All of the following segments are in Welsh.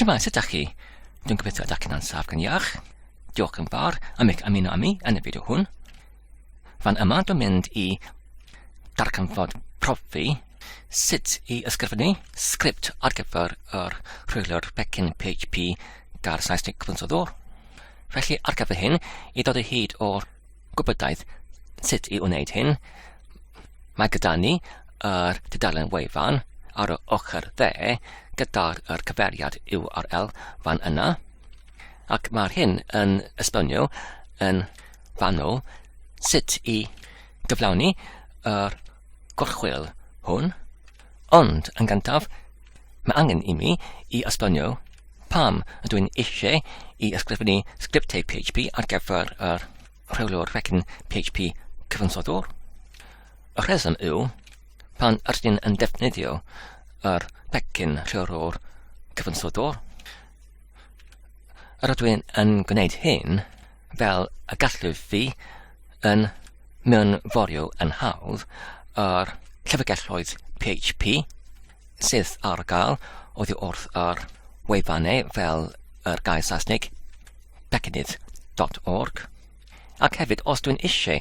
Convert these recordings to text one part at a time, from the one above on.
Siwmai, sut ydych chi? Dwi'n gobeithio ydych chi'n ansaf gan iach. Diolch yn fawr am eich ymuno â mi yn y fideo hwn. Fan yma dwi'n mynd i darganfod profi sut i ysgrifennu sgript ar gyfer yr rhwyliwr pecyn PHP gair Saesneg cyfansoddwr. Felly ar gyfer hyn, i ddod o hyd o'r gwybodaeth sut i wneud hyn, mae gyda ni yr tudalen wefan ar yr ochr dde gyda'r yr cyferiad URL fan yna, ac mae'r hyn yn esbonio yn fanwl sut i gyflawni yr gorchwyl hwn. Ond, yn gyntaf, mae angen i mi i esbonio pam ydw i'n eisiau i ysgrifennu sgriptau PHP ar gyfer yr rheolwr fecyn PHP cyfansoddwr. Y rheswm yw, pan ydych chi'n yn defnyddio yr pecyn rheolwr cyfansoddwr, yr ydw i'n yn gwneud hyn, fel y gallwch chi, yn mewnforio yn hawdd ar llyfrgelloedd PHP sydd ar gael oddi wrth ar wefannau fel yr gair Saesneg becynnydd.org ac hefyd os dwi'n eisiau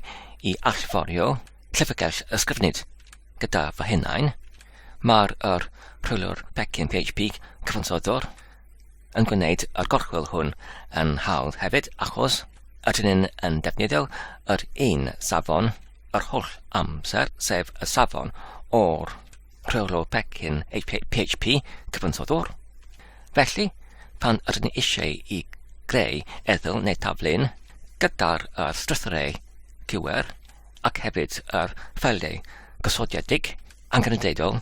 i allforio llyfrgell ysgrifennydd gyda fy hunain, mae'r rhwylwr pecyn PHP cyfansoddwr yn gwneud y gorchwyl hwn yn hawdd hefyd achos ydyn ni'n yn defnyddio yr un safon yr holl amser, sef y safon o'r rheolwr pecyn PHP cyfansoddwr. Felly, pan ydyn ni eisiau i greu eddyl neu taflun gyda'r uh, strythyrau QR ac hefyd yr ffeiliau gosodiedig angenrhydedol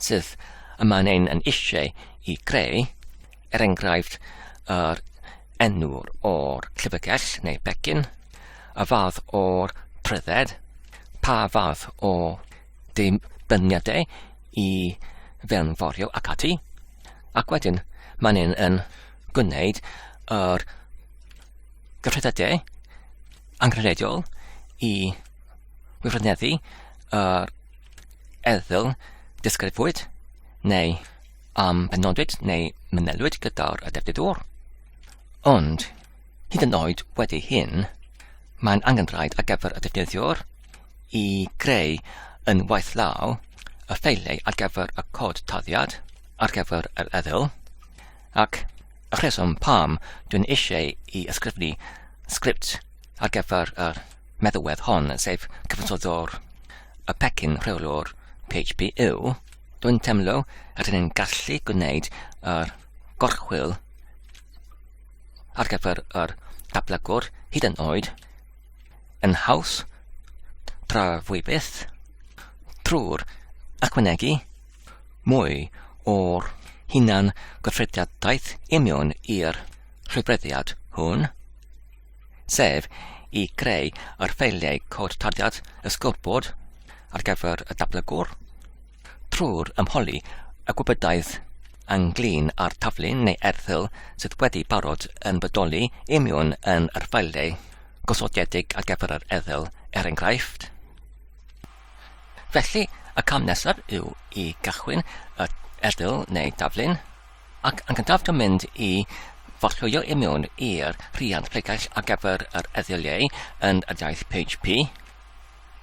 sydd y mae'n ein yn eisiau i greu, er enghraifft yr enwr o'r llyfrgell neu begin, y fath o'r prydded, pa fath o deimladiau i fewnforio ac ati, ac wedyn mae'n ein yn gwneud yr gyffredadau angenrheidiol i wifrneddu yr Erthygl Disgrifwyd neu am benodwyd neu mynelwyd gyda'r addefnyddwr. Ond, hyd yn oed wedi hyn, mae'n angenrhaid ar gyfer y defnyddiwr i greu yn waith law y ffeiliau ar gyfer y cod taliad ar gyfer yr erthygl ac y rheswm pam dwi'n eisiau i ysgrifennu sgript ar gyfer yr meddalwedd hon, sef cyfansoddwr y pecyn rheolwr PHP yw, dwi'n teimlo rydyn ni'n gallu gwneud yr gorchwyl ar gyfer yr ablygwr hyd yn oed yn haws tra fwy byth trwy'r ychwanegu mwy o'r hunan gyffrediadaeth imiwn i'r rhywbreddiad hwn. sef i greu yr ffeiliau cod tarddiad y scoreboard ar gyfer y dablygwr trwy'r ymholi y gwybodaeth ynglyn â'r taflu neu erthygl sydd wedi barod yn bodoli i miwn yn yr ffeiliau gosodiedig ar gyfer yr erthygl er enghraifft. Felly, y cam nesaf yw i gychwyn y erthygl neu daflun, Ac yn gyntaf dwi'n mynd i forllwyo i mewn i'r rhiant pregaill ar gyfer yr eddyliau yn yr iaith PHP.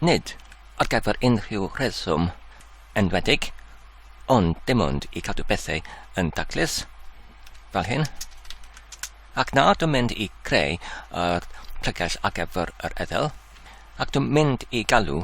Nid ar gyfer unrhyw rheswm enwedig, ond dim ond i cadw pethau yn daclus, fel hyn. Ac nawr dwi'n mynd i creu yr pregaill ar gyfer yr eddyl, ac dwi'n mynd i galw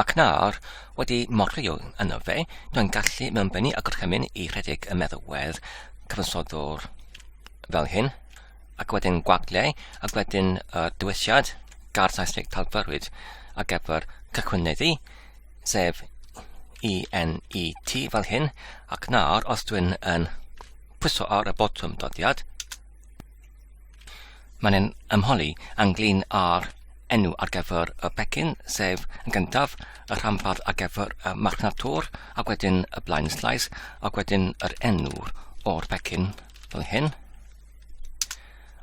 Ac nawr, wedi morio yno fe, dwi'n gallu mewnbennu a gorchymyn i rhedeg y meddalwedd cyfansoddwr fel hyn, ac wedyn gwagle, ac wedyn y dywediad gair Saesneg talfyrwyd ar gyfer cychwyneddu, sef ENET fel hyn, ac nawr os dwi'n yn pwyso ar y botwm doddiad, Mae'n ein ymholi ynglyn â'r enw ar gyfer y pecyn, sef yn gyntaf y rhanbarth ar gyfer y marchnad tor, ac wedyn y blaen slais, ac wedyn yr enw o'r pecyn fel hyn.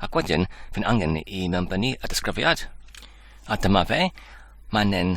Ac wedyn, fi'n angen i mewnbynnu y disgrifiad. A dyma fe, mae'n ein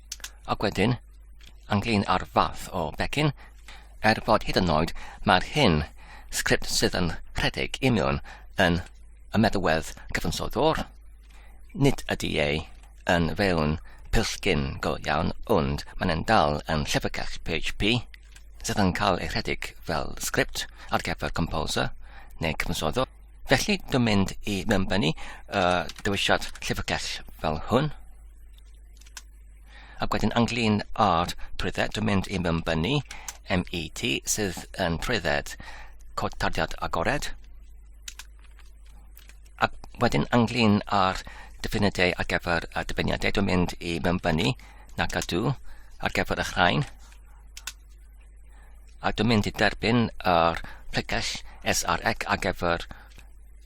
Ac wedyn, ynglyn â'r fath o becyn, er bod hyd yn oed mae'r hyn sgript sydd yn rhedeg i mewn yn y meddwedd cyfansoddwr, nid ydy ei yn fewn pillgyn go iawn ond mae'n yn dal yn llyfrgell PHP sydd yn cael ei rhedeg fel sgript ar gyfer composer neu cyfansoddwr. Felly, dwi'n mynd i mewnbynnu uh, dewisiad llyfrgell fel hwn. Ac wedyn ynglyn â'r trwydded, dwi'n mynd i mymbynnu MET sydd yn trwydded cod tarddiad agored. Ac wedyn ynglyn â'r dyfyniadau ar gyfer y dyfyniadau, dwi'n mynd i mymbynnu na gadw ar gyfer y chrain. A dwi'n mynd i derbyn yr pregell SRX ar gyfer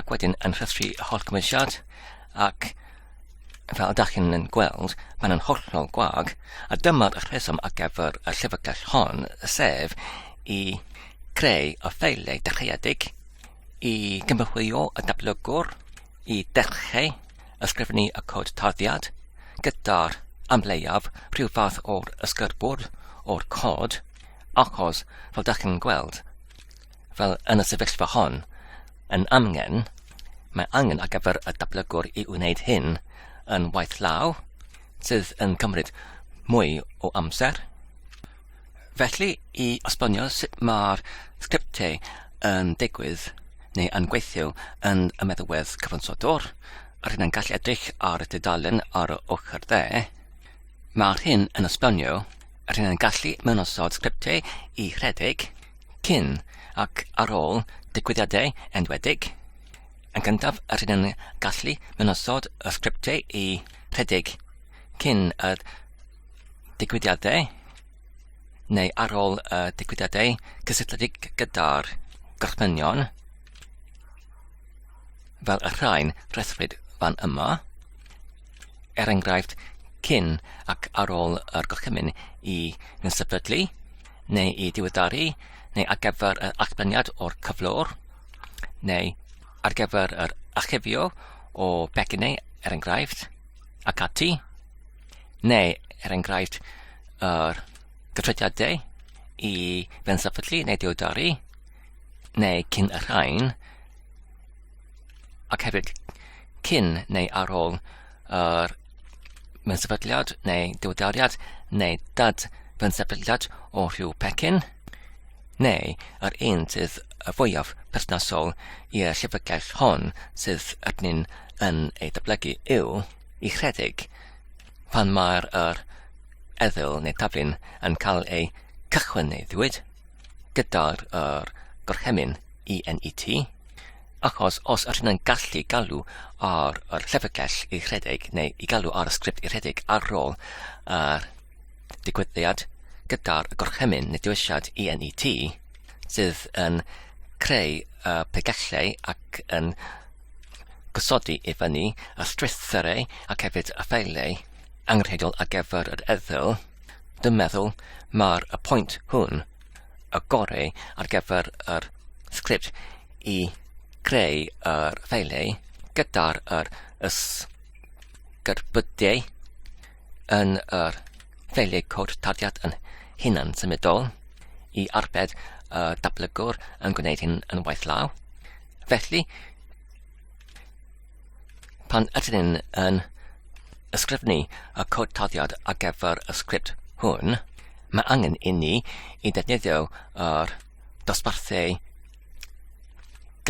ac wedyn yn rhestru y holl gymwysiad ac fel ydych chi'n yn gweld, mae'n yn hollol gwag, a dyma'r rheswm ar gyfer y llyfrgell hon, sef i creu y ffeiliau dechreuedig, i gymrwyo y dablygwr, i dechrau ysgrifennu y cod tarddiad, gyda'r amleiaf rhyw fath o'r ysgyrbwrdd o'r cod, achos fel ydych chi'n gweld, fel yn y sefyllfa hon, yn amgen, mae angen ar gyfer y datblygwr i wneud hyn yn waith law, sydd yn cymryd mwy o amser. Felly, i osbonio sut mae'r sgriptiau yn digwydd neu yn gweithio yn y meddalwedd cyfansodwr, rydyn yn gallu edrych ar y tudalen ar y ochr dde, Mae'r hyn yn esbonio yr hyn yn gallu mewn osod sgriptiau i rhedeg cyn ac ar ôl digwyddiadau enwedig. Yn gyntaf, yr hyn yn gallu mewn osod y sgriptiau i rhedeg cyn y digwyddiadau neu ar ôl y digwyddiadau cysylltiedig gyda'r gorchmynion fel y rhain rhethrwyd fan yma. er enghraifft cyn ac ar ôl yr gorchymyn i ddisefydlu neu i diweddaru neu ar gyfer yr allbleniad o'r cyflwr neu ar gyfer yr achifio o becynnau er enghraifft ac ati neu er enghraifft yr gytrydiadau i fensefydlu neu diweddaru neu cyn y rhain ac hefyd cyn neu ar ôl yr mewn sefydliad neu diwyddariad neu dad mewn sefydliad o rhyw pecyn, neu yr un sydd y fwyaf perthnasol i'r llyfrgell hon sydd arnyn yn ei dyblygu yw i rhedeg pan mae'r yr eddyl neu taflun yn cael ei cychwyn neu ddiwyd gyda'r yr gorchymyn ENET Achos os ydyn yn gallu galw ar yr llyfrgell i rhedeg neu i galw ar y sgript i rhedeg ar ôl yr digwyddiad gyda'r gorchymyn neu diwesiad ENET sydd yn creu y pregellau ac yn gosodi i fyny y strwythurau ac hefyd y ffeiliau angenrheidiol ar gyfer yr eddyl, dwi'n meddwl mae'r y pwynt hwn y gorau ar gyfer yr sgript i greu yr ffeiliau gyda'r yr ysgyrbydiau yn yr ffeiliau cod tarddiad yn hunan symudol i arbed y datblygwr yn gwneud hyn yn waith law. Felly, Pan ydyn ni'n yn ysgrifennu y cod tarddiad ar gyfer y sgript hwn, mae angen inni i ddefnyddio yr dosbarthu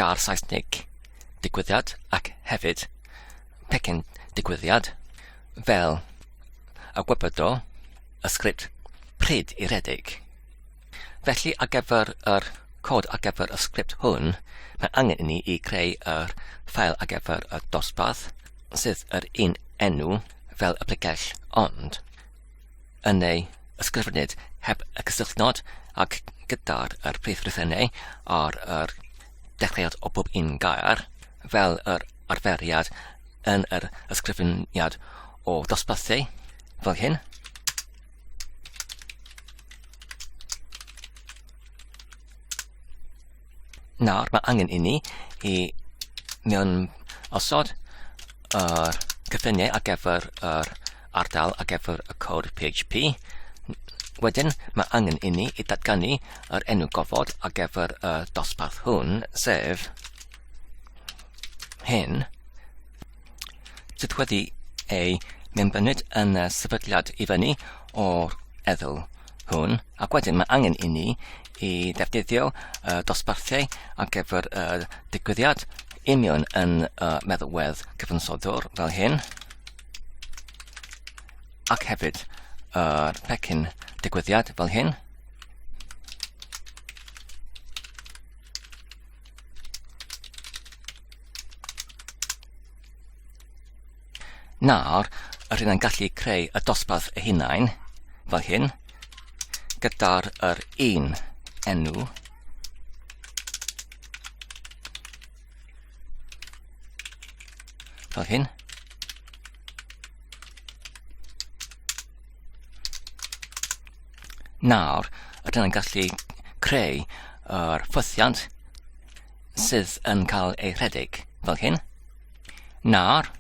gar Saesneg digwyddiad ac hefyd pecyn digwyddiad fel y gwybod o y sgript pryd i redeg. Felly ar gyfer yr cod ar gyfer y sgript hwn, mae angen i ni i creu yr ffael ar gyfer y dosbarth, sydd yr un enw fel y pregell ond yn ei ysgrifennydd heb y cysylltnod ac gyda'r er prif rifennau ar yr dechreuad o bob un gair, fel yr arferiad yn yr ysgrifeniad o dosbarthu, fel hyn. Nawr, mae angen i ni i mewn osod yr er, cyffiniau ar gyfer yr er, ardal ar gyfer y cod PHP. Wedyn, mae angen i ni i datganu yr er enw gofod ar gyfer y dosbarth hwn, sef hyn. sydd wedi ei mewnbyned yn y sefydliad i fyny o'r eddl hwn ac wedyn mae angen i ni i ddefnyddio y dosbarthiau ar gyfer y digwyddiad union yn y meddalwedd cyfansoddwr fel hyn ac hefyd yr pecyn digwyddiad fel hyn Nawr, yr hyn yn gallu creu y dosbarth y hunain, fel hyn, gyda'r yr un enw. Fel hyn. Nawr, rydyn ni'n gallu creu yr ffwythiant sydd yn cael ei rhedeg fel hyn. Nawr,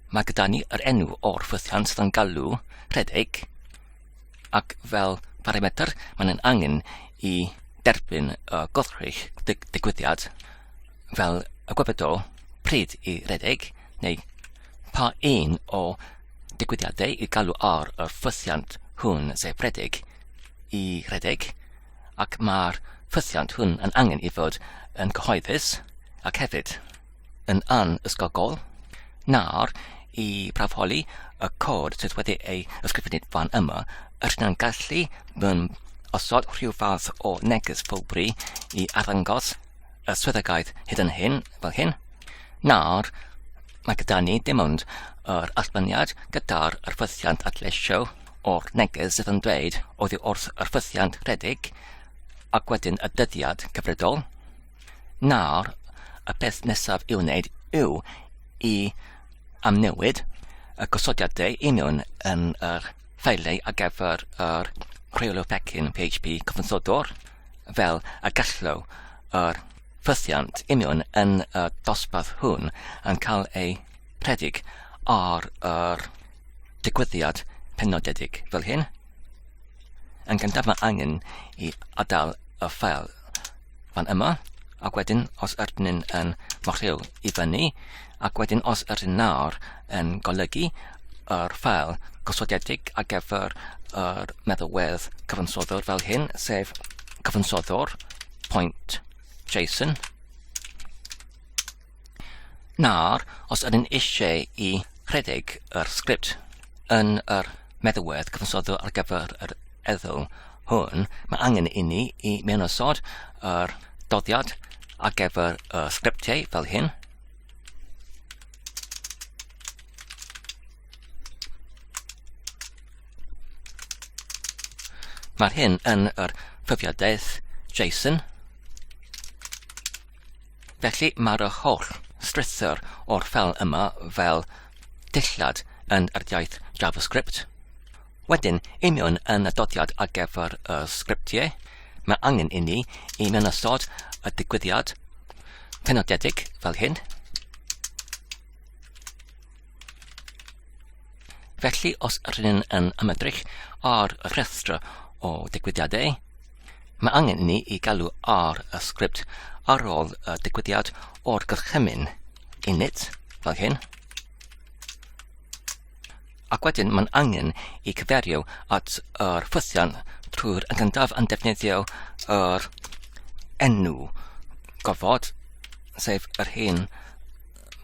mae gyda ni yr enw o'r ffwythiant sydd yn galw rhedeg ac fel parametr mae'n angen i derbyn y godrych dig digwyddiad fel y gwybod o pryd i redeg neu pa un o digwyddiadau i galw ar yr ffwythiant hwn sef rhedeg i redeg ac mae'r ffwythiant hwn yn angen i fod yn gyhoeddus ac hefyd yn anysgogol nawr i brafoli y cod sydd wedi ei ysgrifennu fan yma yr hynna'n gallu mewn osod rhyw fath o neges ffwlbri i arddangos y swyddogaeth hyd yn hyn, fel hyn, nawr mae gyda ni dim ond yr allbyniad gyda'r ffythiant adleisio o'r neges sydd yn dweud oddi wrth yr ffythiant rhedeg ac wedyn y dyddiad cyfredol. Nawr, y peth nesaf i'w wneud yw i amnewid y gosodiadau union yn yr ffeilau ar gyfer yr rheolio pecyn PHP cyfansodwr. fel y gallo yr ffythiant union yn y dosbarth hwn yn cael ei rhedeg ar yr digwyddiad penodedig fel hyn, yn gyntaf mae angen i adael y ffael fan yma, ac wedyn os ydyn yn mochio i fyny, ac wedyn os ydyn nawr yn golygu yr ffael gosodedig ar gyfer yr meddalwedd cyfansoddwr fel hyn, sef cyfansoddwr point JSON. Nawr, os ydyn eisiau i rhedeg yr sgript yn yr meddalwedd cyfansoddwr ar gyfer yr eddol hwn, mae angen i ni i mewn ysod yr doddiad ar gyfer y sgriptiau fel hyn, Mae'r hyn yn yr profiadaeth Jason. Felly mae'r holl strythyr o'r ffel yma fel dillad yn yr iaith JavaScript. Wedyn, i mewn yn y dodiad ar gyfer y sgriptiau, mae angen inni i mewn ystod y digwyddiad penodedig fel hyn. Felly, os rydyn yn ymedrych ar y rhestr o digwyddiadau, mae angen inni i galw ar y sgript ar ôl y digwyddiad o'r gorchymyn init fel hyn. ac wedyn mae'n angen i cyferio at yr ffythian trwy'r gyntaf yn defnyddio yr enw gofod, sef yr hyn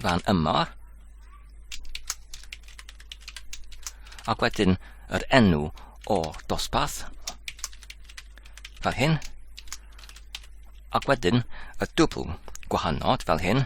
fan yma, ac wedyn yr enw o dosbarth, fel hyn, ac wedyn y dwbl gwahanol fel hyn,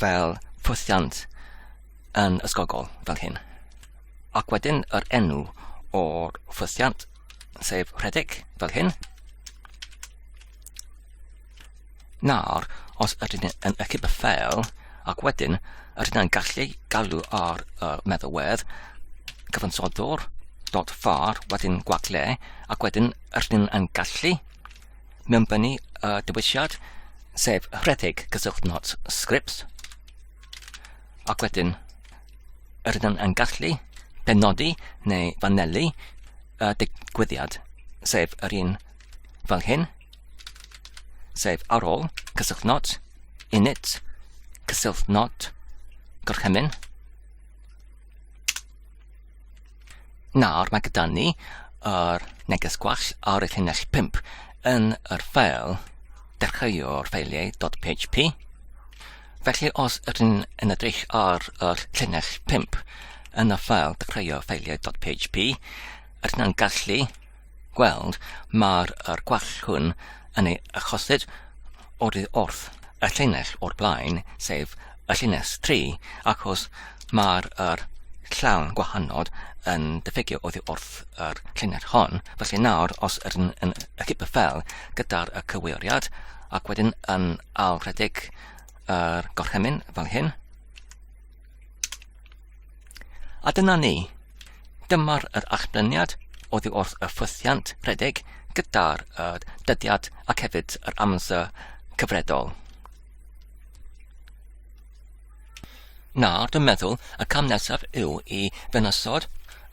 fel pwthiant yn ysgogol fel hyn. Ac wedyn yr enw o'r pwthiant, sef rhedeg fel hyn. Nawr, os ydyn ni yn ychydig y ffel, ac wedyn ydyn ni'n gallu galw ar y meddalwedd cyfansoddwr dot far wedyn gwagle ac wedyn ydyn ni'n gallu mewnbynnu y dewisiad, sef rhedeg cyswllt not scripts, ac wedyn yr ydym yn gallu benodi neu fanelu y digwyddiad, sef yr un fel hyn, sef ar ôl cyswllt not, init, cyswllt not, gorchymyn, Nawr mae gyda ni yr neges gwall ar y llinell 5 yn yr ffeil dechreuo'r ffeiliau.php. Felly os ydyn yn edrych ar yr llinell 5 yn y ffeil dechreuo'r ffeiliau.php, ydyn yn gallu gweld mâr yr gwall hwn yn ei achosid oddi wrth y llinell o'r blaen, sef y llinell 3, achos mâr yr llawn gwahanod yn diffygio oddi wrth yr llinell hon. Felly nawr, os ydyn yn y cip y ffel gyda'r y cywiriad, ac wedyn yn ailredig yr gorchymyn fel hyn, A dyna ni. Dyma'r yr achlyniad oddi wrth y ffwythiant rhedeg gyda'r uh, dyddiad ac hefyd yr amser cyfredol. Nawr, dwi'n meddwl y cam nesaf yw i ddynasod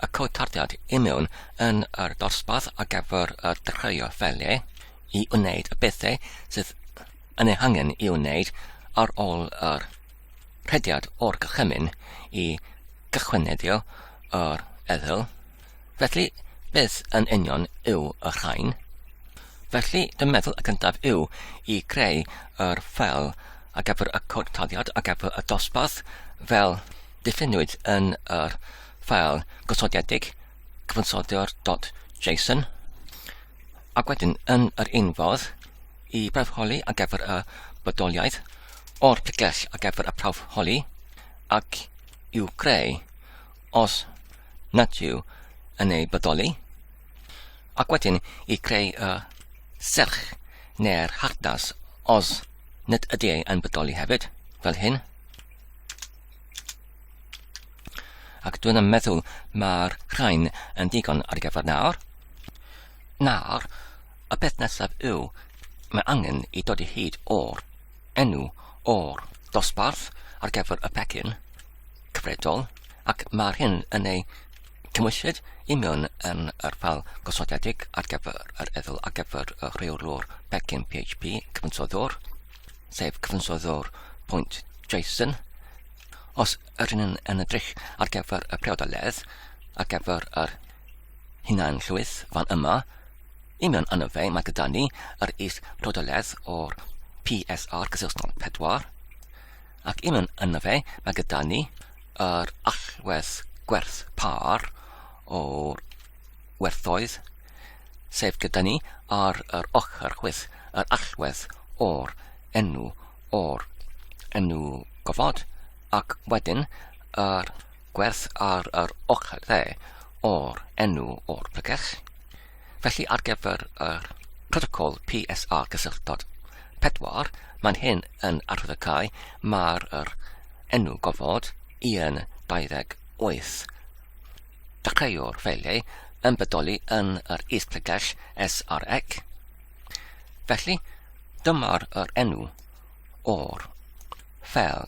y cod tardiad i mewn yn yr dosbarth a gyfer y dechreuo ffeliau i wneud y bethau sydd yn ei hangen i wneud ar ôl yr rhediad o'r gorchymyn i gychwyneddio yr eddyl. Felly, beth yn union yw y rhain? Felly, dy meddwl y gyntaf yw i greu yr ffel a gyfer y cod taliad a gyfer y dosbarth fel diffiniwyd yn yr ffel gosodiedig cyfansoddio'r.json ac wedyn yn yr un fodd y prawf holi ar gyfer y bodoliaeth o'r pregell ar gyfer y prawf holi ac i'w greu os nad yw yn ei bodoli, ac wedyn i greu y serch neu'r hardas os nad ydy ei yn bodoli hefyd, fel hyn. Ac dwi'n yn meddwl mae'r rhain yn digon ar gyfer nawr. Nawr, y peth nesaf yw, mae angen i dod i hyd o'r enw o'r dosbarth ar gyfer y pecyn cyfredol, ac mae'r hyn yn ei cymwysyd i mewn yn yr ffal gosodedig ar gyfer yr edl ar gyfer y rheolwr pecyn PHP cyfansoddwr, sef cyfansoddwr pwynt JSON. Os yr hyn yn edrych ar gyfer y priodoledd ar gyfer yr hunanllwyth fan yma, i mewn arno fe, mae gyda ni yr is rodoledd o'r PSR gysylltol 4, ac i mewn arno fe, mae gyda ni yr allwedd gwerth par o'r werthoedd, sef gyda ni ar yr ochr chwith yr allwedd o'r enw o'r enw gofod, ac wedyn yr Gwerth ar yr ochr dde o'r enw o'r pregeth. Felly ar gyfer yr protocol PSR cysylltod 4, mae'n hyn yn arwyddocau mae'r yr enw gofod i yn 28. Dechreuwr ffeiliau yn bodoli yn yr is pregell SREC. Felly, dyma'r yr enw o'r ffel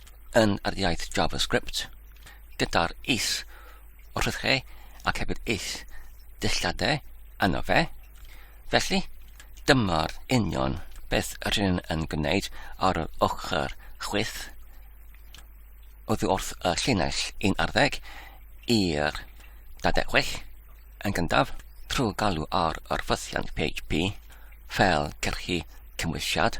yn yr iaith JavaScript gyda'r is wrth chi ac hefyd is dillade yno fe. Felly, dyma'r union beth rydyn yn gwneud ar yr ochr chwith oddi wrth y llinell 11 i'r 26 yn gyntaf trwy galw ar yr ffythiant PHP fel cyrchu cymwysiad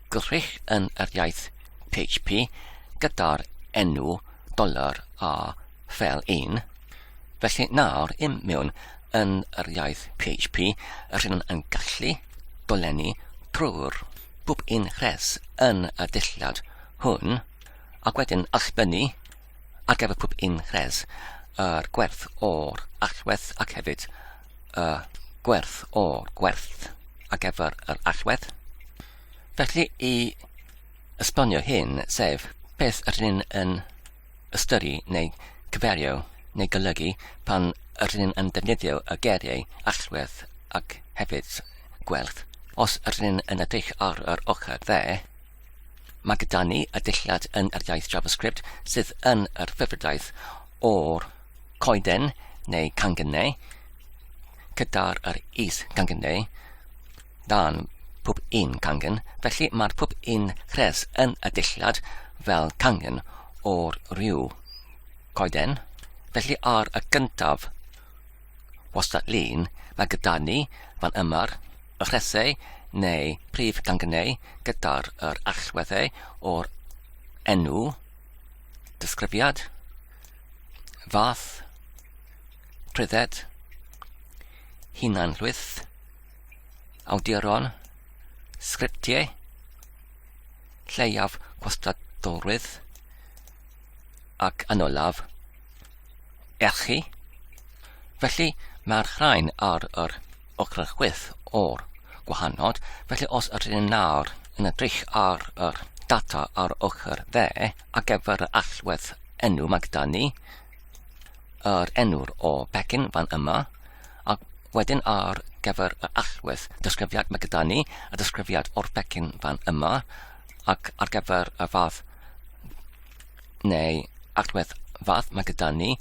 Gwych yn yr iaith php gyda'r enw dollar a fel un. Felly nawr im mewn yn yr iaith php rydym yn gallu dolenni trwy'r bob un rhes yn y dulliad hwn ac wedyn allbynnu Ar gyfer pob un rhes, yr gwerth o'r allwedd ac hefyd y gwerth o'r gwerth ar gyfer yr allwedd. Felly i esbonio hyn, sef beth yr hyn yn ystyru neu cyferio neu golygu pan yr hyn yn defnyddio y geiriau allwedd ac hefyd gwerth, os yr hyn yn edrych ar yr ochr dde, Mae gyda ni y dulliad yn yr iaith JavaScript sydd yn yr hyfrydaeth o'r coeden neu cangynnau gyda'r yr is cangynnau dan pob un cangen, felly mae'r pob un rhes yn y dillad fel cangen o'r rhyw coeden, felly ar y gyntaf Wastad Llun, Mae gyda ni, fan yma'r rhesei, neu prif gangneu, gyda'r yr allweddau o'r enw, disgrifiad, fath, trwydded, hunanhlwyth, awduron, sgriptiau, lleiaf gwastadolrwydd, Ac yn olaf, erchi. Felly, mae'r rhain ar yr ochr chwith o'r gwahanod, felly os ydyn ni'n nawr yn edrych ar yr data ar ochr dde a gyfer y allwedd enw mae gyda ni yr enw'r o pecyn fan yma a wedyn ar gyfer y allwedd disgrifiad mae gyda ni y disgrifiad o'r pecyn fan yma ac ar gyfer y fath neu agwedd fath mae gyda ni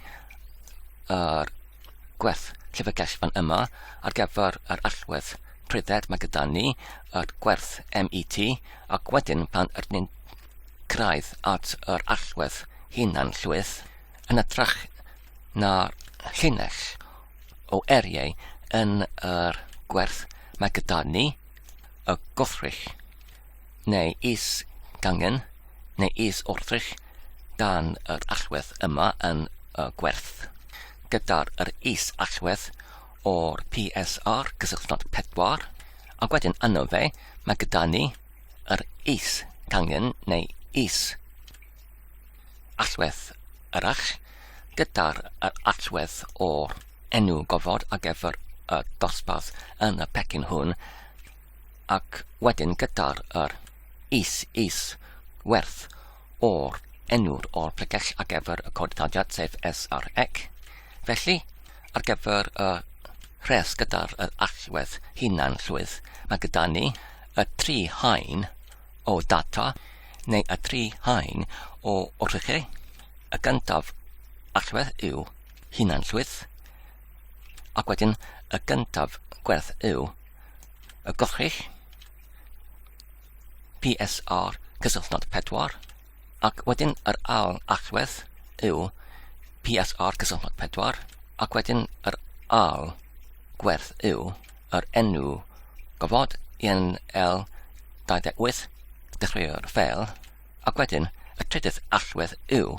yr gwerth llyfrgell fan yma ar gyfer yr allwedd prydded mae gyda ni yr gwerth MET ac wedyn pan yr ni'n craidd at yr allwedd hunan llwyth yn ytrach na llinell o eriau yn yr gwerth mae gyda ni y gothrych neu is gangen, neu is wrthrych dan yr allwedd yma yn y gwerth, gyda'r yr is allwedd o'r PSR cysylltnod 4, ac wedyn yno fe, mae gyda ni yr is gangen neu is allwedd arall, gyda'r yr allwedd o'r enw gofod ar gyfer y dosbarth yn y pecyn hwn, ac wedyn gyda'r yr, is, is, werth, o'r, enw'r, o'r pregell ar gyfer y codiddadiad sef S ar ec. Felly, ar gyfer y rhes gyda'r yr allwedd hunan llwydd, mae gyda ni y tri hain o data neu y tri hain o wrthrychau. Y gyntaf allwedd yw hunan llwydd ac wedyn y gyntaf gwerth yw y gollrill, PSR cysylltnod 4, ac wedyn yr ail allwedd yw PSR cysylltnod 4, ac wedyn yr ail gwerth yw yr enw gofod yn L28 dechreuo'r ffeil, ac wedyn y trydydd allwedd yw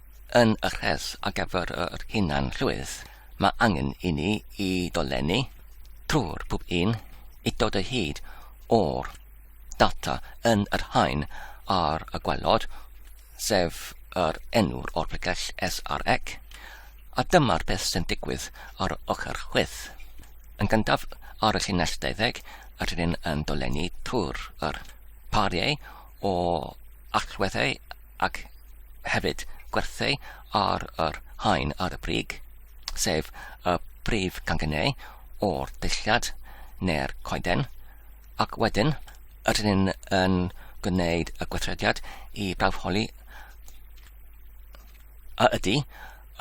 Yn y rhes ar gyfer yr hunan-llwyth, mae angen i ni i dolenni trwy'r pob un i dod o hyd o'r data yn yr haen ar y gwelod, sef yr enw'r o'r pregell SREC, a dyma'r peth sy'n digwydd ar y ochr chwith. Yn gyntaf, ar y llinell 20, yr hyn yn dolenni trwy'r yr pariau o allweddau ac hefyd gwerthu ar yr haen ar y brig, sef y brif gangynnau o'r deilliad neu'r coeden, ac wedyn ydyn ni'n yn gwneud y gweithrediad i brawfholi a ydy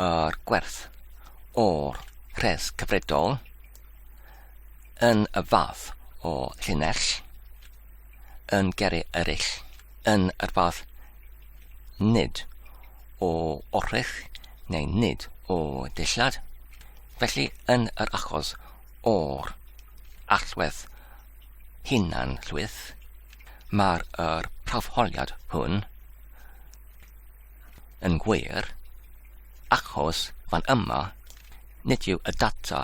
yr gwerth o'r rhes cyfredol yn y fath o llinell. yn gyrru eraill yn yr fath nid o orchudd neu nid o ddillad. Felly, yn yr achos o'r allwedd hunan llwyth, mae'r er prawfholiad hwn Yn wir, achos fan yma, nid yw y data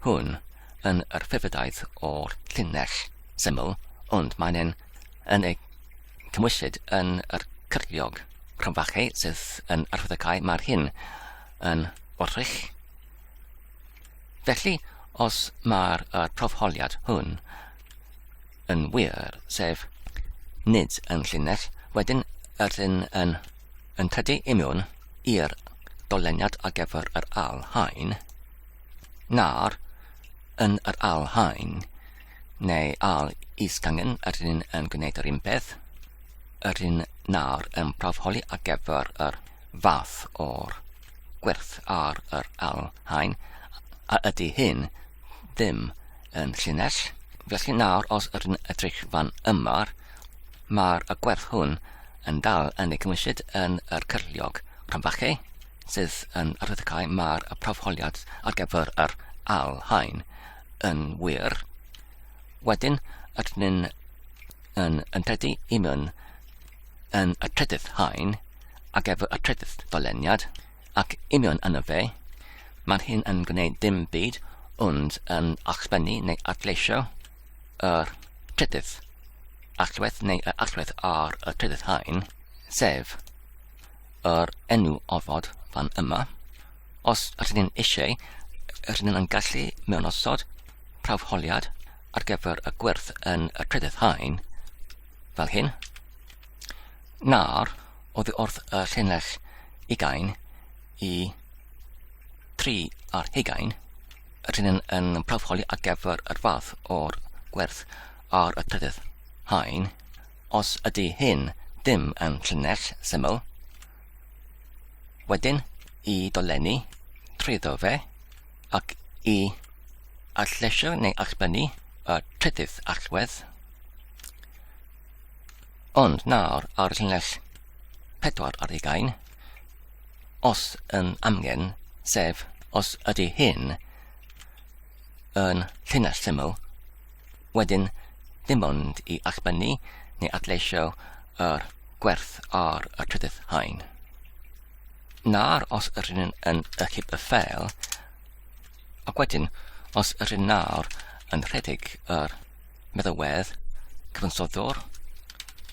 hwn yn yr ffefrydaeth o'r llinell syml, ond mae'n yn, yn ei cymwysyd yn yr cyrliog. Rhan fache sydd yn arwyddocae mae'r hyn yn wrthrych. Felly, os mae'r profholiad hwn yn wir, sef nid yn llinell, wedyn ydyn yn yn tydu imiwn i'r dolyniad ar gyfer yr al hain, na'r yn yr al hain, neu al isgangen ydyn yn gwneud yr un peth, ydyn na'r yn profholi ar gyfer yr fath o'r gwerth ar yr al hain, a ydy hyn ddim yn llinell. Felly nawr, os ydyn edrych fan yma, mae'r gwerth hwn yn dal yn ei gymwysyd yn yr cyrliog rhanfachau sydd yn arddecau mae'r profholiad ar gyfer yr al hain yn wir. Wedyn, ydyn ni'n yn, yn credu i mewn yn y trydydd hain ar gyfer y trydydd doleniad. Ac union yna fe, maen hyn yn gwneud dim byd ond yn allbynnu neu adleisio yr trydydd allwedd neu yr allwedd ar y trydydd haen, sef yr enw ofod fan yma. Os ydyn ni'n eisiau, ydyn ni'n gallu mewn osod prawfholiad ar gyfer y gwerth yn y trydydd haen, fel hyn. Nawr, oddi wrth y llinell ugain i tri ar hugain, y llinell yn prawfoli ar gyfer yr fath o'r gwerth ar y trydydd haen, os ydy hyn ddim yn llinell syml, wedyn i dolenni trwyddo fe ac i allesio neu allbynnu y trydydd allwedd, Ond nawr ar llinell pedwar ar ugain, os yn amgen, sef os ydy hyn yn llinell syml, wedyn dim ond i allbynnu neu adleisio yr gwerth ar y trydydd haen. Nawr os ydyn yn, yn ychyb y ffel, ac wedyn os ydyn nawr yn rhedeg yr meddalwedd cyfansoddwr,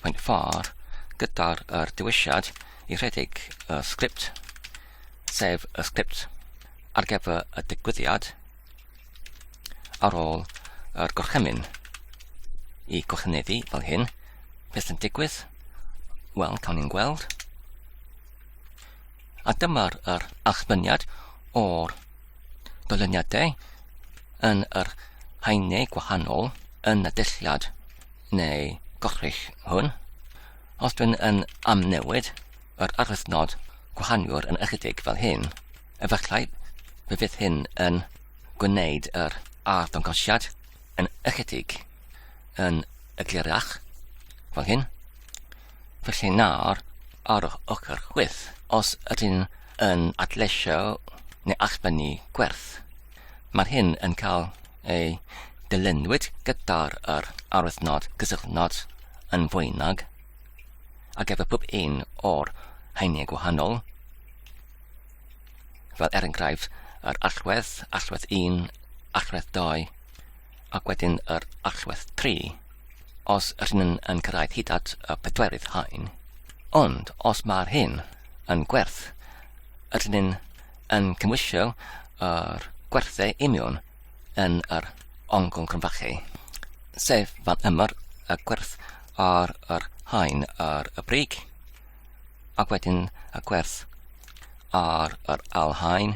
mae'n ffordd gyda'r er dewisiad i rhedeg y sgript, sef y sgript ar gyfer y digwyddiad ar ôl yr gorchymyn i gorchymeddu fel hyn, beth yn digwydd? Wel, cawn ni'n gweld. A dyma'r yr allfyniad o'r dyluniadau yn yr haenau gwahanol yn y dulliad neu gorchull hwn. Os dwi'n yn amnewid yr arwythnod gwahaniwr yn ychydig fel hyn, efallai fe fydd hyn yn gwneud yr arddangosiad yn ychydig yn eglurach fel hyn. Felly nawr, ar yr ochr chwith, os ydyn yn adleisio neu allbynnu gwerth, mae'r hyn yn cael ei dylunwyd gyda'r yr arwyddnod cysylltnod yn fwynag ar gyfer pob un o'r haenau gwahanol, fel er enghraifft yr allwedd, allwedd 1, allwedd 2, Ac wedyn yr allwedd tri, os yr hyn yn, yn cyrraedd hyd at y pedwerydd haen. Ond os mae'r hyn yn gwerth, yr hyn yn cymwysio yr gwerthau union yn yr ongl grynfachu, sef fan ymwyr y gwerth ar yr haen ar y brig, ac wedyn y gwerth ar yr ail haen,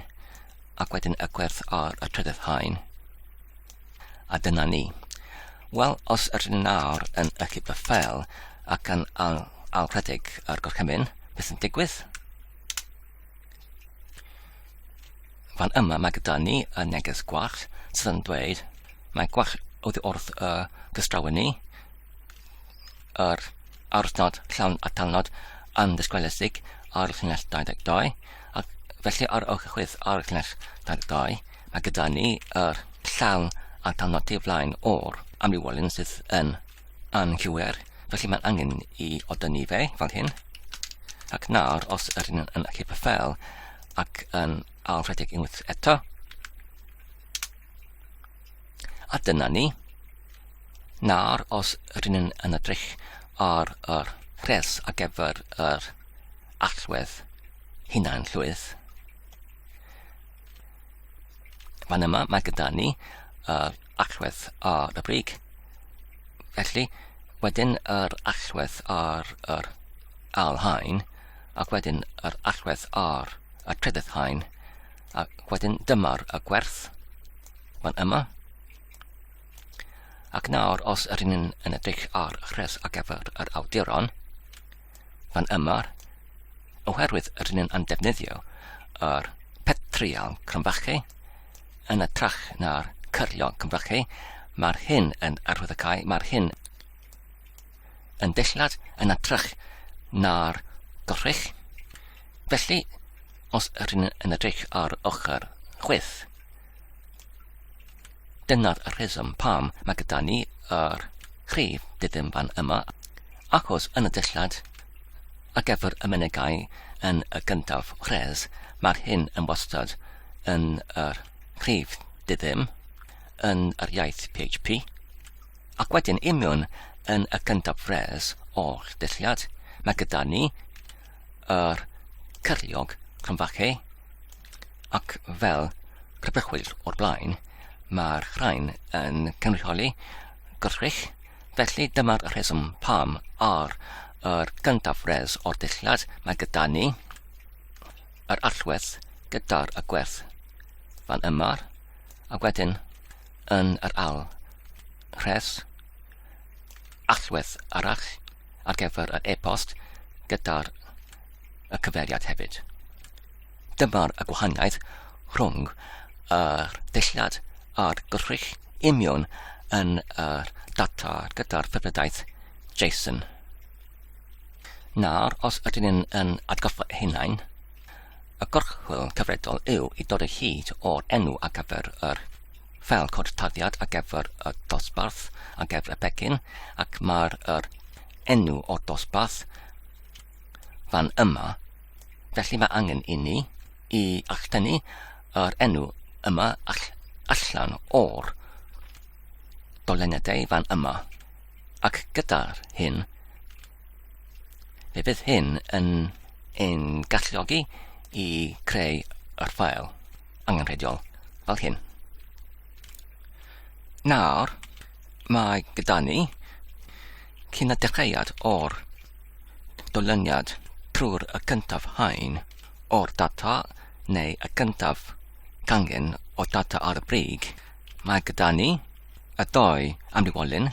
ac wedyn y gwerth ar y trydydd haen. A dyna ni. Wel, os ydyn ni nawr yn ychydig y ffel ac yn ail, ail rhedeg ar gorchymyn, beth yn digwydd? Fan yma mae gyda ni y neges gwach sydd yn dweud mae gwach oddi wrth y gystrawen ni, yr aruthnod llawn atalnod yn ddisgweledig ar y llinell 22 ac felly ar ôl cychwyn ar y llinell 22 mae gyda ni yr llawn atalnod tu flaen o'r amrywiolyn sydd yn anghywir felly mae'n angen i odynnu fe fel hyn ac nawr os yr hyn yn y cypyffel ac yn alfredig unwaith eto A dyna ni. Nawr, os rydyn ni'n yn edrych ar yr rhes ar gyfer yr allwedd hunan llwydd, fan yma mae gyda ni yr allwedd ar y brig. Felly, wedyn yr allwedd ar yr alhain, ac wedyn yr allwedd ar y trydydd hain, A wedyn dyma'r y gwerth. Mae'n yma. Ac nawr, os yr un yn edrych ar rhes ar gyfer yr awduron, mae'n yma, oherwydd yr un yn defnyddio yr petrial cromfachu yn y trach na'r cyrlion cromfachu, mae'r hyn yn arwyddocau, mae'r hyn yn dillad yn atrych na'r dorrech. Felly, os rydyn yn edrych ar ochr chwith, dyna'r rheswm pam mae gyda ni yr rhif dydyn fan yma, achos yn y dillad a gefr y menegau yn y gyntaf rhes, mae'r hyn yn wastad yn yr rhif dydyn yn yr iaith PHP. Ac wedyn imiwn yn y gyntaf res o'r dulliad, mae gyda ni yr cyriog cromfache ac fel crybwyllwyr o'r blaen, mae'r rhain yn cynrychioli gwrthrych, felly dyma'r rheswm pam ar yr gyntaf res o'r dulliad mae gyda ni yr allwedd gyda'r y gwerth fan yma, a wedyn yn yr ail rhes, allwedd arall ar gyfer yr e-bost gyda'r y cyfeiriad hefyd. Dyma'r y gwahaniaeth rhwng yr dulliad a'r gwrthrych imiwn yn yr data gyda'r ffefrydaeth JSON. Nawr, os ydyn ni'n yn atgoffa hunain, Y gorchwyl cyfredol yw i dod o hyd o'r enw ar gyfer yr ffeil cod tarddiad ar gyfer y dosbarth ar gyfer y pecyn ac mae'r yr enw o'r dosbarth fan yma. Felly mae angen i ni i alltynnu yr enw yma all, allan o'r doleniadau fan yma. Ac gyda'r hyn, Fe bydd hyn yn ein galluogi i creu yr ffael angenrheidiol fel hyn. Nawr, mae gyda ni cyn y dechreuad o'r dolyniad trwy'r y cyntaf hain o'r data neu y cyntaf gangen o data ar y brig, mae gyda ni y doi amrywiolyn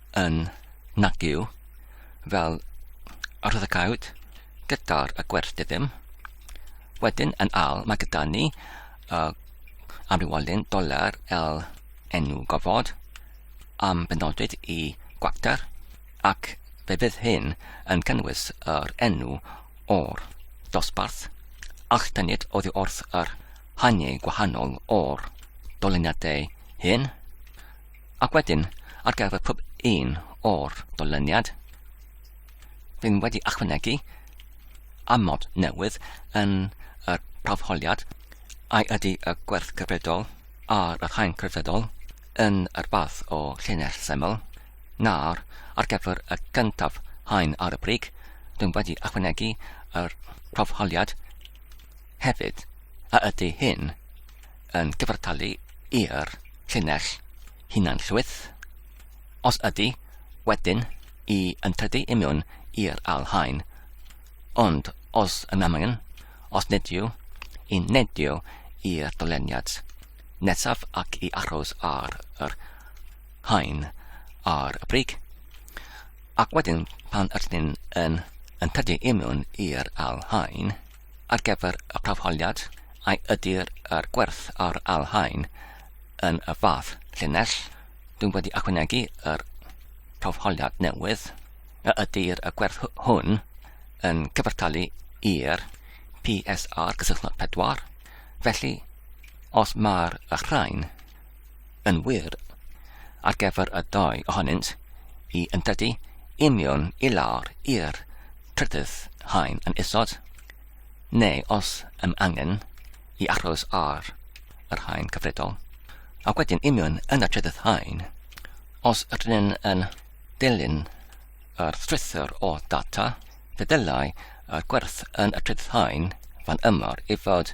yn nagyw fel yr oedd y cawd gyda'r y gwerth diddim. Wedyn yn al, mae gyda ni uh, amrywolyn doler el enw gofod am benodwyd i gwacter ac fe fydd hyn yn cynnwys yr enw o'r dosbarth a'ch tynnid oddi wrth yr haniau gwahanol o'r doleniadau hyn. Ac wedyn, ar gyfer pob un o'r dolyniad, rydym wedi ychwanegu amod newydd yn y prawfholiad ai ydy y gwerth cyfredol a'r haen cyfredol yn yr fath o llinell syml, na'r ar gyfer y gyntaf haen ar y brig, dwi'n wedi ychwanegu yr prawfholiad hefyd a ydy hyn yn cyfartalu i'r llinell hunan-llwyth? Os ydy, wedyn, i yn tydi i mewn i'r ail haen. Ond os yn amgen, os nid yw, i neidio i'r doleniad nesaf ac i aros ar yr haen ar y brig. Ac wedyn pan ydyn ni'n yn, yn tydi i mewn i'r ail haen, ar gyfer y prawfholiad, a ydy'r er gwerth ar alhaen yn y fath llinell, dwi'n wedi ychwanegu yr prawfholiad newydd, a ydy'r er gwerth hwn yn cyfartalu i'r PSR gysylltnod pedwar, felly os mae'r rhain Yn wir, ar gyfer y ddau ohonynt, hi yn dydy union i lawr i'r trydydd haen yn isod, neu os ym angen, i aros ar yr haen cyfredol, a wedyn union yn y trydydd haen, os rydyn yn dilyn yr strwythur o data, fe ddylai y gwerth yn y trydydd haen fan ymor i fod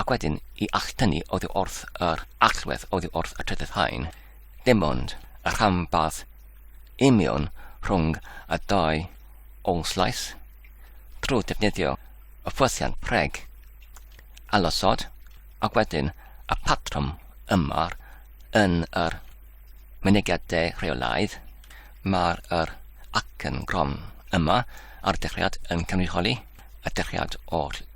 Ac wedyn i alltynnu oddi wrth yr allwedd oddi wrth y trydydd haen, dim ond y rhanbarth union rhwng y dau ôl-slais, trwy ddefnyddio y ffwythiant preg, ailosod, ac wedyn y patrwm yma yn yr mynegiad de rheolaidd, mae'r yr acen gron yma ar y dechreuad yn cynrychioli y dechreuad oll.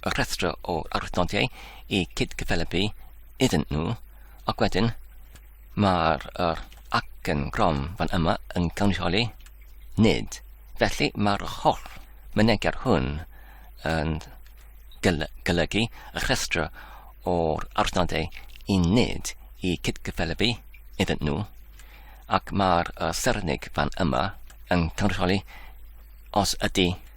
y rhestr o arwydnodiau i cyd-gyfelybu iddyn nhw, ac wedyn mae'r er acen grom fan yma yn cynrychioli nid. Felly mae'r holl mynegiad hwn yn golygu y rhestr o'r arwydnodau i nid i cyd-gyfelybu iddyn nhw, ac mae'r er sernig fan yma yn cynrychioli os ydy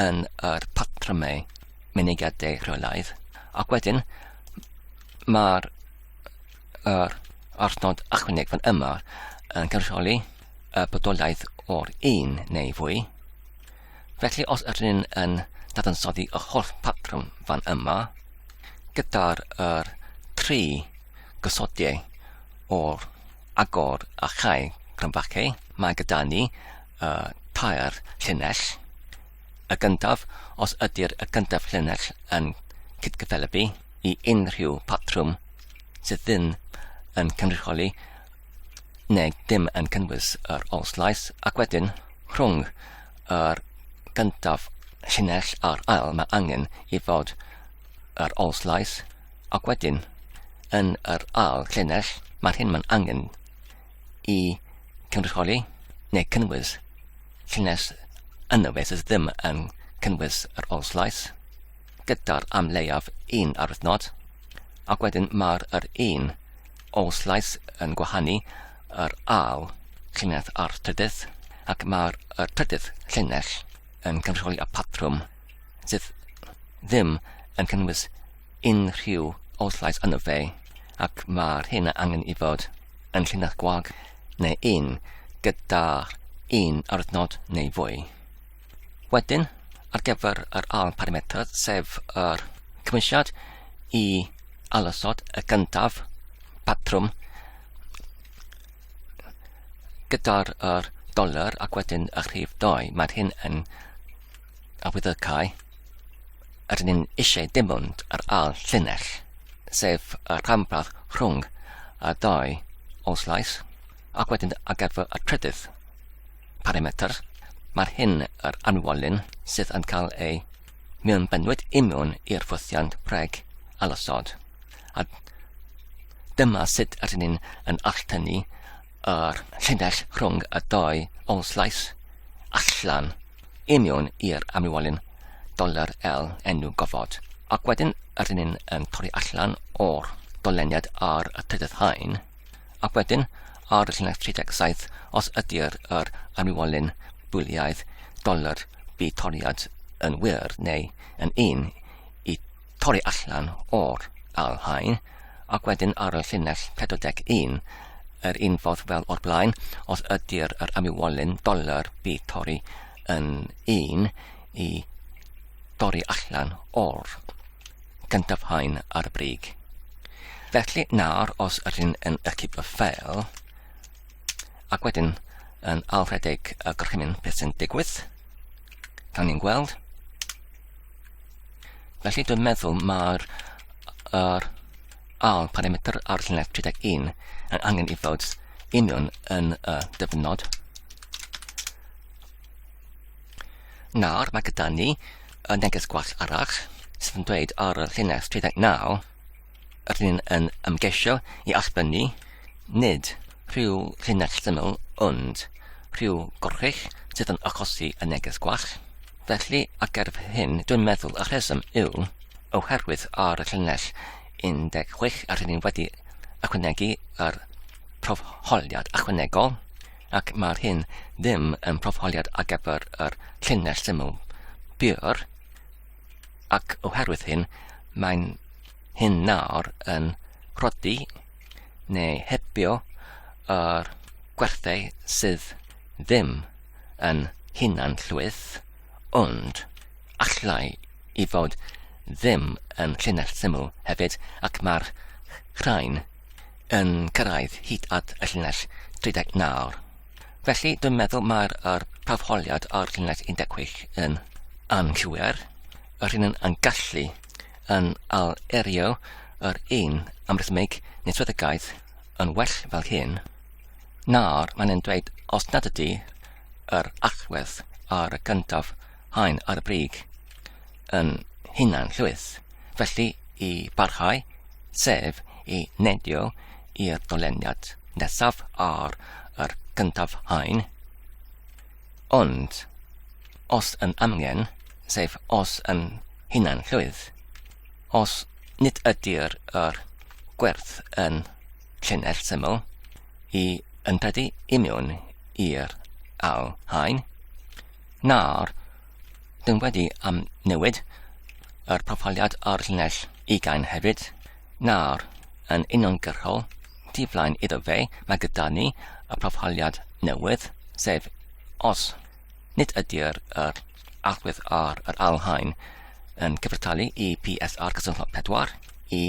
yn yr patrymau mynediadau rheolaidd, ac wedyn mae'r er, arnod ychwaneg fan yma yn cynrychioli y bodolaeth o'r un neu fwy. Felly os yr un yn dadansoddi y holl patrwm fan yma, gyda'r er, tri gysodiau o'r agor a chau cromfacau, mae gyda ni y tair llinell. Y gyntaf, os ydy'r y gyntaf llinell yn cydgyffelybu i unrhyw patrwm sydd ddim yn cynrychioli neu dim yn cynnwys yr olslais, ac wedyn rhwng yr gyntaf llinell a'r ail mae angen i fod yr olslais Ac wedyn, yn yr ail llinell, mae'r hyn mae'n angen i cynrychioli neu cynnwys llinell yna fe sydd ddim yn cynnwys yr ol slais, gyda'r am leiaf un arwythnod, ac wedyn mae'r yr un ol slais yn gwahanu yr ail llinell a'r trydydd, ac mae'r y trydydd llinell yn cynrychioli y patrwm sydd ddim yn cynnwys unrhyw olllais yno fe, ac mae'r hyn a angen i fod yn llinell gwag neu un gyda un arwythnod neu fwy. Wedyn, ar gyfer yr ail parametr, sef yr cymwysiad i alosod y gyntaf patrwm gyda'r er doler ac wedyn y rhif 2, mae'r hyn yn a with y cae, rydyn ni'n eisiau dim ond yr ail llinell, sef y rhanbarth rhwng y dau oslais, ac wedyn ar gyfer y trydydd parametr, mae'r hyn yr anwolyn sydd yn cael ei mewn bynwyd imiwn i'r ffwythiant preg alosod. A dyma sut rydyn ni'n yn alltynnu yr llinell rhwng y dau oslais allan I mewn i'r amlwolyn, dolur L enw gofod, ac wedyn yr un yn torri allan o'r doleniad ar y trydydd haen, ac wedyn ar y llinell 37 os ydy'r yr amlwolyn bwliaidd dolur bu toriad yn wir neu yn un i torri allan o'r Al Hain ac wedyn ar y llinell 41 yr un ffordd fel o'r blaen, os ydy'r yr amywolyn doler bu torri yn un i dorri allan o'r gyntaf hain ar y brig. Felly nawr os yr hyn yn y cipio fel, ac wedyn yn alfredeg y gorchymyn beth sy'n digwydd, gan ni'n gweld, Felly dwi'n meddwl mae'r er, ail parametr ar llunedd 31 yn angen i fod union yn y dyfnod. Nawr mae gyda ni y neges gwell arall sydd yn dweud ar y llunedd 39 Rydyn yn ymgeisio i allbynnu nid rhyw linell syml ond rhyw gorchudd sydd yn achosi y neges gwall. Felly, ar gerdd hyn, dwi'n meddwl y rheswm yw oherwydd ar y llinell 16 rydyn ni wedi ychwanegu yr profholiad ychwanegol ac mae'r hyn ddim yn profholiad ar gyfer yr llinell syml bur. ac oherwydd hyn mae'n hyn nawr yn rhoddi neu hebio yr gwerthau sydd ddim yn hunan llwyth, ond allai i fod ddim yn llinell syml hefyd ac mae'r rhain yn cyrraedd hyd at y llinell 39. Felly, dwi'n meddwl mae'r er, prawfholiad o'r llinell 16 yn anghywir, yr hyn yn gallu yn al-erio yr un amrhythmig neswyddogaeth yn well fel hyn, nawr mae'n yn dweud os nad ydy yr allwedd ar y gyntaf haen ar y brig yn hunan llwyth, felly i barhau, sef i nedio i'r doleniad nesaf ar yr gyntaf haen. Ond, os yn amgen, sef os yn hunan llwyth, os nid ydy'r yr gwerth yn llinell syml i ympedu imiwn i'r ail haen, Nawr, dyn wedi am newid yr proffiliad ar llinell ugain hefyd. Nawr, yn uniongyrchol, tu flaen iddo fe, mae gyda ni y proffiliad newydd, sef os nid ydy'r yr allwedd ar yr alhain yn cyfrtalu i PSR cysylltnod 4 i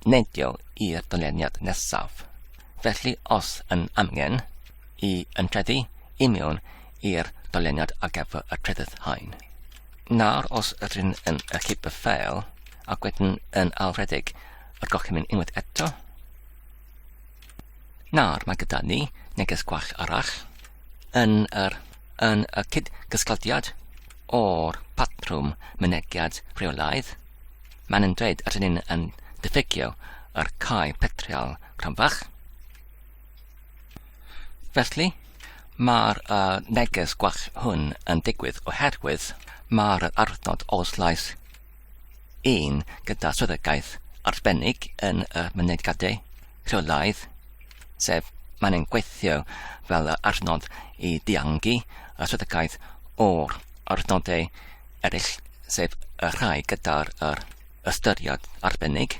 neidio i'r dyleniad nesaf. Felly, os yn amgen, i ymtreddu i mewn i'r dyluniad ar gyfer y trydydd haen. Nawr os ydyn yn ychydig y ffeil ac wedyn yn alfredig y gorchymyn unwaith eto. Nawr mae gyda ni neges gwach arall yn yr yn y cyd-gysglodiad o'r patrwm mynegiad rheolaidd, mae'n yn dweud at ni'n yn diffygio yr cae petrial cronfach. Felly, mae'r uh, neges gwell hwn yn digwydd oherwydd mae'r arnod os lais un gyda swyddogaeth arbennig yn y mynediadau rheolaidd, sef mae'n ein gweithio fel y arnod i ddiangu y swyddogaeth o'r arnodau eraill, sef y rhai gyda'r ystyriad arbennig.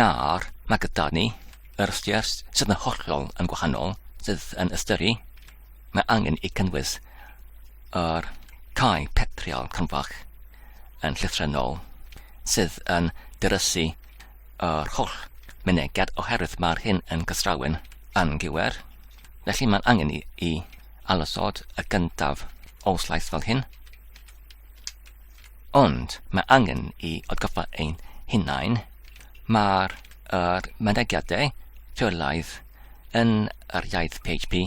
Nawr, mae gyda ni yr ystyr sydd yn hollol yn gwahanol, sydd yn ystyru, mae angen i cynnwys yr cae petriol cynfach yn llythrennol, sydd yn dyrysu yr holl mynegiad oherwydd mae'r hyn yn gystrawen yn gywir. Felly mae'n angen i, i alysod y gyntaf o slais fel hyn, Ond mae angen i atgoffa ein hunain, mae'r er, mynegiadau rheolaidd yn yr iaith PHP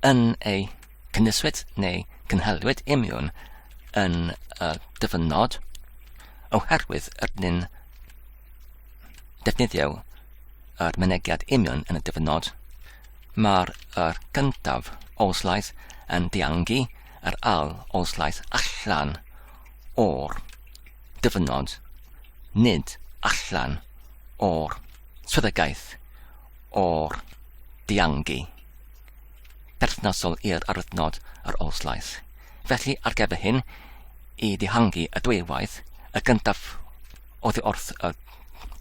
yn ei cynnwyswyd neu cynhaliwyd imiwn yn y dyfynod oherwydd ydyn defnyddio yr mynegiad union yn y dyfynod. Mae'r er gyntaf oslaidd yn diangu Yr âl oedd llaeth allan o'r dyfynod, nid allan o'r swyddogaeth o'r diangi perthnasol i'r arwyddnod yr âl llaeth. Felly, ar gyfer hyn, i ddihangu y dwywaith, y gyntaf oddi wrth y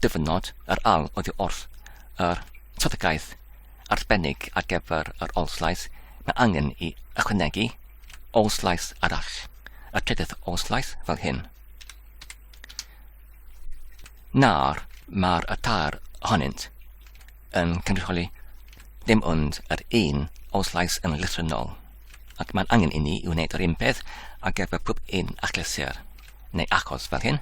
dyfynod, yr âl oddi wrth yr swyddogaeth arbennig ar gyfer yr Oll-Slais, mae angen i ychwanegu Oll-Slais arall, y trydydd Oll-Slais fel hyn. Nawr, mae'r y tair ohonynt yn cynrychioli ddim ond yr un o slais yn lythrynol, ac mae'n angen i ni i wneud yr un peth ar gyfer pob un achlysur, neu achos fel hyn.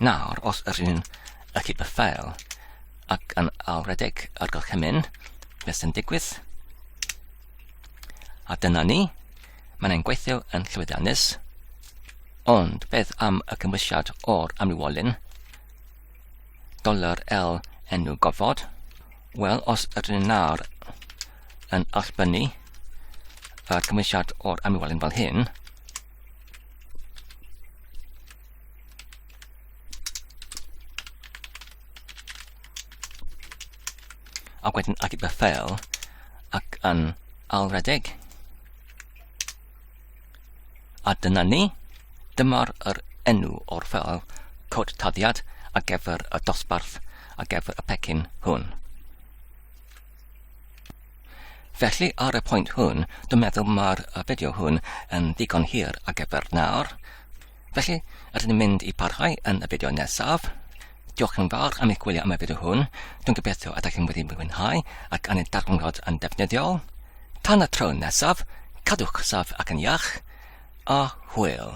Nawr, os yr un y cyd y ffael ac yn alwredeg ar gorchymyn, beth sy'n digwydd? A dyna ni, mae'n ein gweithio yn llwyddiannus, ond beth am y cymwysiad o'r amrywolyn? Dollar L enw gofod. Wel, os ydyn ni nawr yn allbynnu yr cymwysiad o'r amlwelyn fel hyn, ac wedyn at y ffeil ac yn alredeg. A dyna ni, dyma'r yr enw o'r ffeil cod taddiad a gefr y dosbarth a gefr y pecyn hwn. Felly ar y pwynt hwn, dwi'n meddwl mae'r fideo hwn yn ddigon hir a gefr nawr. Felly, rydyn ni'n mynd i parhau yn y fideo nesaf. Diolch yn fawr am eich gwylio am y fideo hwn. Dwi'n gobeithio y da chi'n wedi mwynhau ac yn ei darganfod yn defnyddiol. Tan y tro nesaf, cadwch saf ac yn iach, a hwyl!